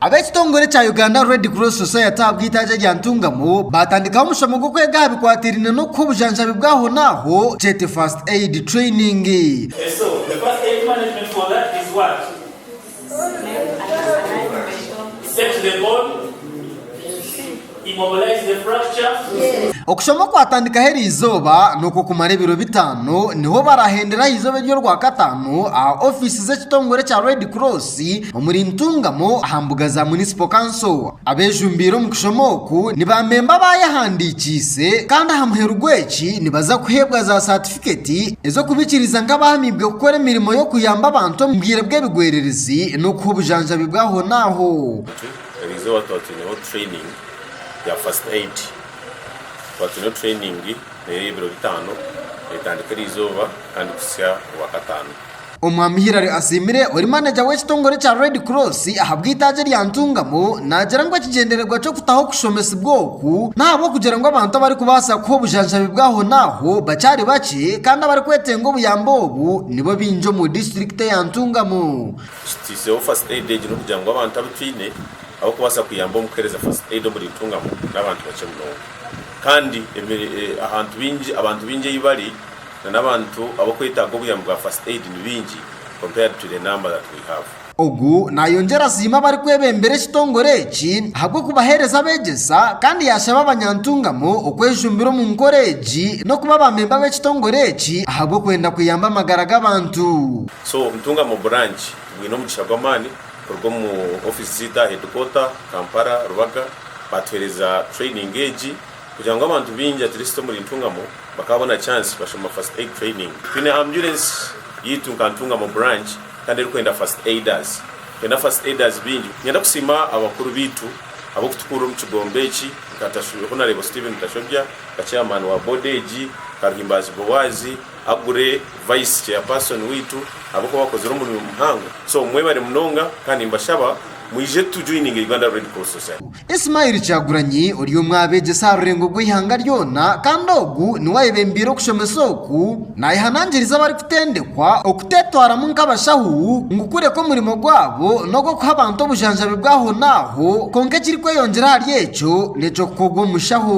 Ab'ekitongore kya Uganda Red Cross Society aha bw'eitaagi erya Ntungamo baatandikaho omushomo gw'okwega aha bikwataine n'okuha obujanjabi bw'ahonaaho, kyete First Aid Training. Immobilize the fracture. Okushoma okwatandikaho eri izooba n'okwokumara ebiro bitaano niho barahendera aha izooba ery'orwakataano aha ofiisi z'ekitongore kya Red Cross omuri Ntungamo aha mbuga za Municipal Council. Abejumbiire omu kushoma oku ni ba memba abaayehandiikiise kandi aha muheru gw'eki nibaza kuheebwa za satifiketi ez'okubikiriza nk'abaahamiibwe kukora emirimo y'okuyamba abantu omu bwire bw'ebigwererezi n'okuha obujanjabi bw'ahonaaho. Eriizooba tuba twineho training ya first aid, tuba twine training eyebiro bitaano etandika eriizooba kandi kuhitsya orwakataano. Omwami Hillary Asiimire ori maneja w'ekitongore kya Red Cross ahabw'eitaagi erya Ntungamo naagira ngu ekigyendererwa ky'okutaho okushomesibwa oku n'ahabw'okugira ngu abantu abarikubaasa kuha obujanjabi bw'ahonaaho bakyari bakye kandi abarikwetenga obuyambi obu nibo baingi omu disiturikiti eya Ntungamo. Kiteiseho First Aid egi n'okugira ngu abantu abu twine ab'okubaasa kuyamba omu kuheereza First Aid omuri Ntungamo n'abantu bakye munonga. Kandi ahantu baingi, abantu baingi ei bari nana abantu ab'okwetaaga obuyambi bwa First Aid ni baingi compared to the number that we have. Ogu naayongyera asiima abarikwebembera ekitongore eki ahabw'okubaheereza abeegyesa kandi yaashaba abanyantungamo okwejumbira omu nkora egi n'okuba baamemba b'ekitongore eki ahabw'okwenda kuyamba amagara g'abantu. So Obutunga mu Burangi bwine omugisha gw'amaani kuruga omu ofiisi zaitu aha headquarter, Kampala, Rubaga, baatuheereza training egi kugira ngu abantu baingi at least omuri Ntungamo bakaabona chance bashoma First Aid Training. Twine ambulance yaitu nka Ntungamo Burangi kandi erikwenda First Aiders. Twine na First Aiders baingi. Niinyenda kusiima abakuru baitu ab'okutukuurira omu kigombe eki nka Tashu, oku naareeba Steven Tashobya nka Chairman wa Board egi, Karuhimbaazi Boaz, Agure vice chairperson waitu ahabwokuba wakozire omurimo muhango so mwebare munonga kandi nimbashaba mwije tu joininge Uganda Red Cross Society. Ismail Kyagulanyi ori omwe aha beegyesa aha rurengo rw'eihanga ryona kandi ogu niwe ayebembire okushomesa oku, nayehanangiriza abarikutendekwa okuteetwaramu nk'abashahu ngu kureka omurimo gwabo n'ogw'okuha abantu obujanjabi bw'ahonaaho kwonka ekirikweyongyera ahari ekyo n'eky'okukorwa omushaho.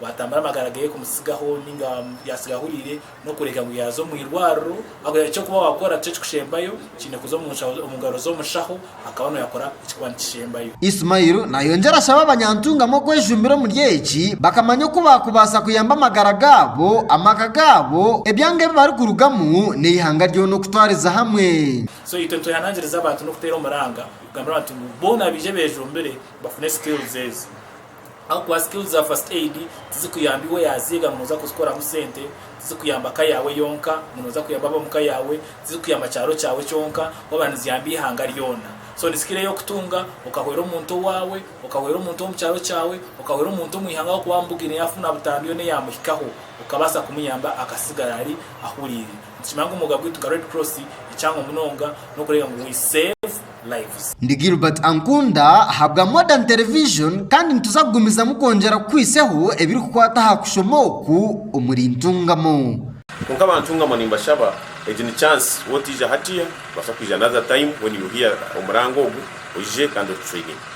Waatambura amagara ge kumutsigaho ninga yaatsiga ahuriire n'okureka ngu yaaza omu irwariro ahabw'okugira ngu eky'okuba waakora tikyo kikushembayo, kiine kuza omu nshaho omu ngaro z'omushaho akaba nooyo akora ekikuba nikishembayo. Ismail naayongyera ashaba abanyantungamu okwejumbira omuri eki bakamanya oku baakubaasa kuyamba amagara gaabo, amaka gaabo, ebyanga ebi barikurugamu n'eihanga ryona okutwariza hamwe. So itwe nitwehanangiriza abantu n'okuteera omuranga kugambira abantu ngu boona baije beejumbire bafune skills ezi. Ahabw'okuba skills za first aid tizikuyamba iwe yazeega ngu nooza kuzikoramu sente, tizikuyamba ka yaawe yonka ngu nooza kuyamba ab'omu ka yaawe, tizikuyamba kyaro kyaawe kyonka waba niziyamba eihanga ryona. So nisikira ey'okutunga okahwera omuntu owaawe, okahwera omuntu ow'omu kyaro kyaawe, okahwera omuntu omw'eihanga ahabw'okuba waamubugire yaafuna butambi yoona eyaamuhikaho okabaasa kumuyamba akasigara ari ahuriire. Nikimera ngu omwooga gwaitu nka Red Cross ekyangwa munonga n'okureeba ngu we save lives. Ndi Gilbert Ankunda ahabwa Modern Television kandi nituza kugumizamu kwongyera kukwitseho ebirikukwata aha kushoma oku omuri Ntungamo. Kwonka aba Ntungamo nimbashaba egi ni chance wotaija hatiya, nobaasa kwija another time when you hear omurango ogu oije kandi otutrainingye.